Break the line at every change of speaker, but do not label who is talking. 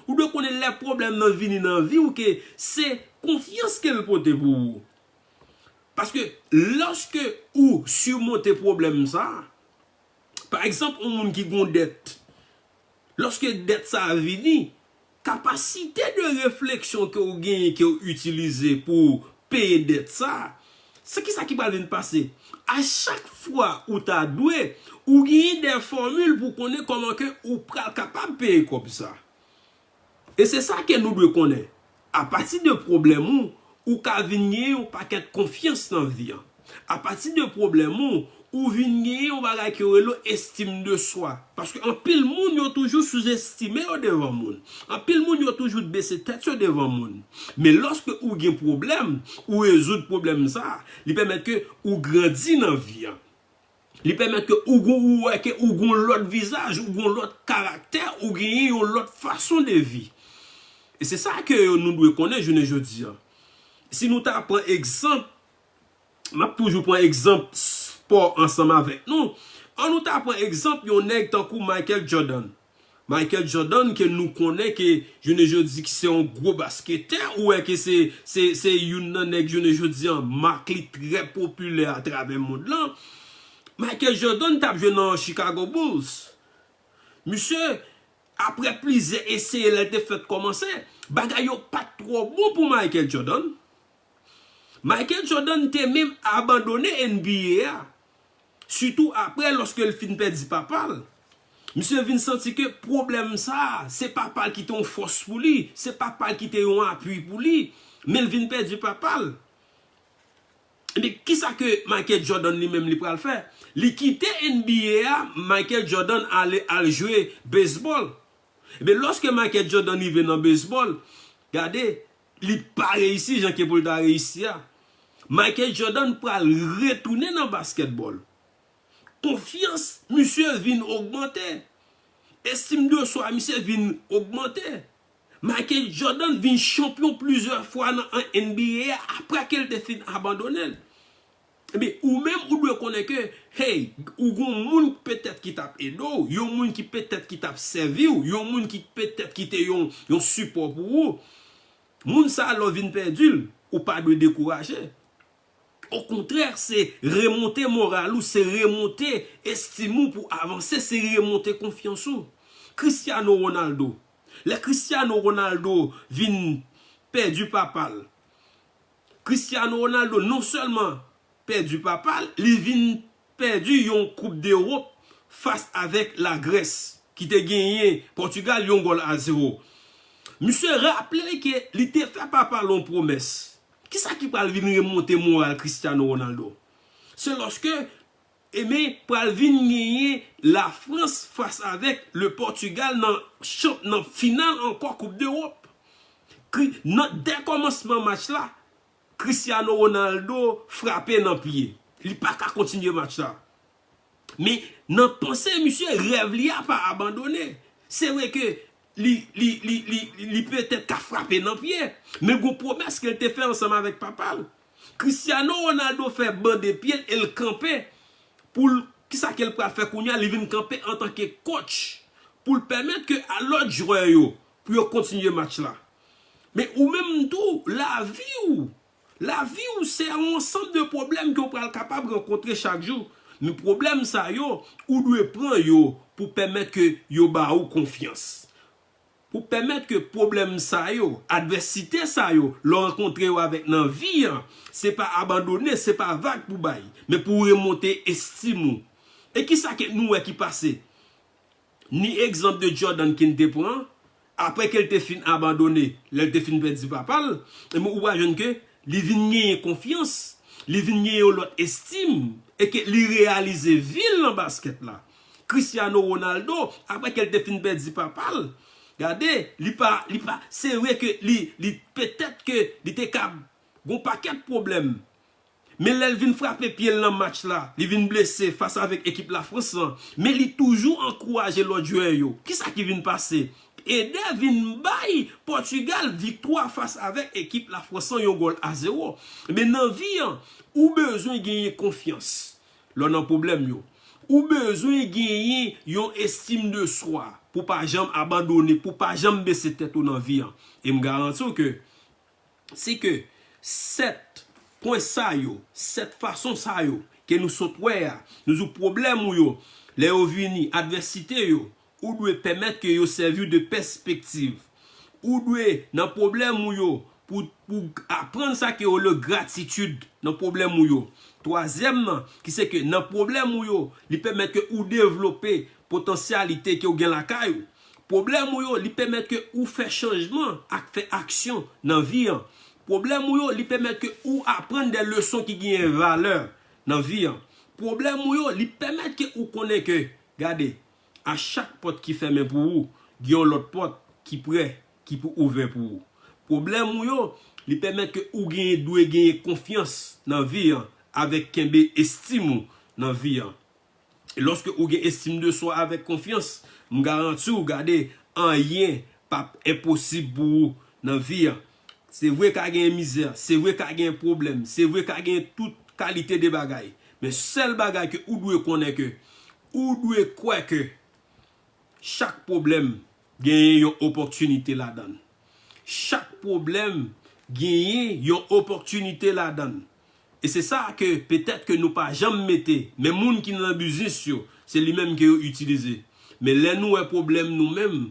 Ou dwe konnen lè pwoblèm nan vini nan vi w ke se konfyans ke l pote pou ou. Paske lòske ou simonte pwoblèm sa, pa egzanp yon moun ki gon dèt, lòske dèt sa vini, kapasite de refleksyon ke w genyen ke w itilize pou w peye dèt sa, se kisa ki pral vin pase? A chak fwa ou ta dwe, ou genyen dè fòmil pou konnen kòman ke ou pral kapab peye kòb sa. E se sa ke nou dwe konnen, a pati de pwoblèm ou, ou ka vin genyen yon pakèt konfyans nan vi an. A pati de pwoblèm ou, ou vin genyen yon bagay ke yo rele estime de soi. Paske anpil moun yo toujou souzestime yo devan moun. Anpil moun yo toujou bese tèt yo devan moun. Men lòske ou gen pwoblèm, ou rezoud pwoblèm sa, li pèmèt ke ou grandi nan vi an. Li pèmèt ke ou gon ou wè ke ou gon lòt vizaj, ou gon lòt karaktè, ou genyen yon lòt fason de vi. E se sa ke yo nou dwe konnen jounen jodi an. Si nou ta pran egzanp M ap toujou pran egzanp spò ansanm avèk nou. An nou ta pran egzanp yon nèg tankou Michael Jordan. Michael Jordan ke nou konnen ke jounen jodi ki se yon gwo basketè, ou wè ke se se se youn nan nèg jounen jodi an mak li trè popilè atravè mond lan. Michael Jordan t ap jwe nan Chicago Bulls. Misye, aprè plizyè eseye lè l te fèt kòmanse, bagay yo pa t twò bon pou Michael Jordan. Michael Jordan te menm abandone NBA a, sitou aprè lòske l fin pèdi papa l. Misye vin santi ke pwoblèm sa a, se papa l ki te yon fòs pou li, se papa l ki te yon apui pou li, men l vin pèdi papa l. Ebyen, kisa ke Michael Jordan li menm li pral fè? Li kite NBA a, Michael Jordan ale al jwe baseball. Ebyen, lòske Michael Jordan rive nan baseball, gade, Li pa reyisi jan ke pou l ta reyisi a. Michael Jordan pral retounen nan basketball. Konfyans misye vin ogmante. Estime de soi misye vin ogmante. Michael Jordan vin chanpyon plizyè fwa nan NBA a apre ke l te fin abandone l. Ebyen, ou menm ou dwe konnen ke, hey, ou gon moun petèt ki tap ede w, yon moun ki petèt ki tap sèvi w, yon moun ki petèt ki te yon yon sipò pou ou. Moun sa a lè w vin pèdi l, ou pa dwe dekouraje. Okontrè, se remonte moral ou, se remonte estim ou pou avanse, se remonte konfyans ou. Cristiano Ronaldo, lè Cristiano Ronaldo vin pèdi papa l, Cristiano Ronaldo non sèlman pèdi papa l, li vin pèdi yon koup dErop fas avèk la Grès ki te genyen Pòtugal yon gòl a zewo. Misye raple l ke li te fè papa l yon pwomès. Kisa ki pral vin remonte moral Cristiano Ronaldo? Se lòske E men pral vin genyen la Frans fas avèk le Portugal nan champ nan final ankò koup dEròp. Kri nan dè kòmansman match la Cristiano Ronaldo frape nan pye. Li pa ka kontinye match la. Men nan panse misye rèv li a pa abandone. Se vre ke li li li li li petèt ka frape nan pye. Men gon pwomès ke l te fè ansanm avèk papa l. Cristiano Ronaldo fè bande pyel el kanpe poul kisa kel pral fè kounya li vin kanpe antanke coach poul pèmèt ke a lòt jwè yo pou yo kontinye match la men ou menm tou laviw laviw se yon ansanm de pwoblèm ke ou pral kapab rankontre chak jou men pwoblèm sa yo ou dwe pran yo pou pèmèt ke yo ba ou konfyans. Pou pèmèt ke pwoblèm sa yo, advèsite sa yo, lè w rankontre yo avèk nan vi an, se pa abandone, se pa vag pou bay, men pou remonte estim ou. E kisa ke nou wè ki pase? Ni egzanp de Jordan King te pran, apre ke l te fin abandone, lè l te fin pèdi papa l, enben ou pral jwenn ke li vin genyen konfyans, li vin genyen yon lòt estim, e ke li reyalize vi l nan baskèt la. Cristiano Ronaldo aprè kel te fin pèdi papal gade li pa li pa se vre ke li li petèt ke li te kab gon pakèt pwoblèm men lèl vin frape pyel nan match la li vin blese fas avèk ekip la France lan men li toujou ankouraje lòt jwè yo kisa ki vin pase Eder vin bay Portugal viktwa fas avèk ekip la France lan yon gòl a 0 men nan vi an ou bezwen genyen konfyans lè w nan pwoblèm yo. Ou bezwen genyen yon estim de swa pou w pa janm abandone, pou w pa janm bese tèt ou nan vi an. E m garanti w ke si ke 7 pwen sa yo, 7 fason sa yo ke nou sot wè a, nou di w pwoblèm ou yo, lè yo vini, advèsite yo, Ou dwe pèmèt ke yo sèvi w de pèspektiv. Ou dwe nan pwoblèm ou yo pou pou aprann sa ke yo rele gratitid nan pwoblèm ou yo. Twazyèm nan, ki se ke nan pwoblèm ou yo, li pèmèt ke ou devlope potansyalite ke ou gen lakay ou. Pwoblèm ou yo, li pèmèt ke ou fè chanjman ak fè aksyon nan vi an. Pwoblèm ou yo, li pèmèt ke ou aprann de leson ki genyen valè nan vi an. Pwoblèm ou yo, li pèmèt ke ou konnen ke, gade, A chak pòt ki fèmen pou ou, gen yon lòt pòt ki prè ki pou ouvè pou ou. Pwoblèm ou yo, li pèmèt ke ou genyen dwe genyen konfyans nan vi an avèk kenbe estim ou nan vi an. E lòske ou gen estim de swa avèk konfyans, m garanti ou gade anyen pap enposib pou ou nan vi an. Se vre ka genyen mizè, se vre ka genyen pwoblèm, se vre ka genyen tout kalite de bagay. Men sèl bagay ke ou dwe konnen ke Ou dwe kwè ke chak pwoblèm genyen yon opòtinite ladann. Chak pwoblèm genyen yon opòtinite ladann. E se sa a ke petèt ke nou pa janm mete, men moun ki nan biznis yo, se li menm ke yo itilize. Men lè nou wè pwoblèm nou menm,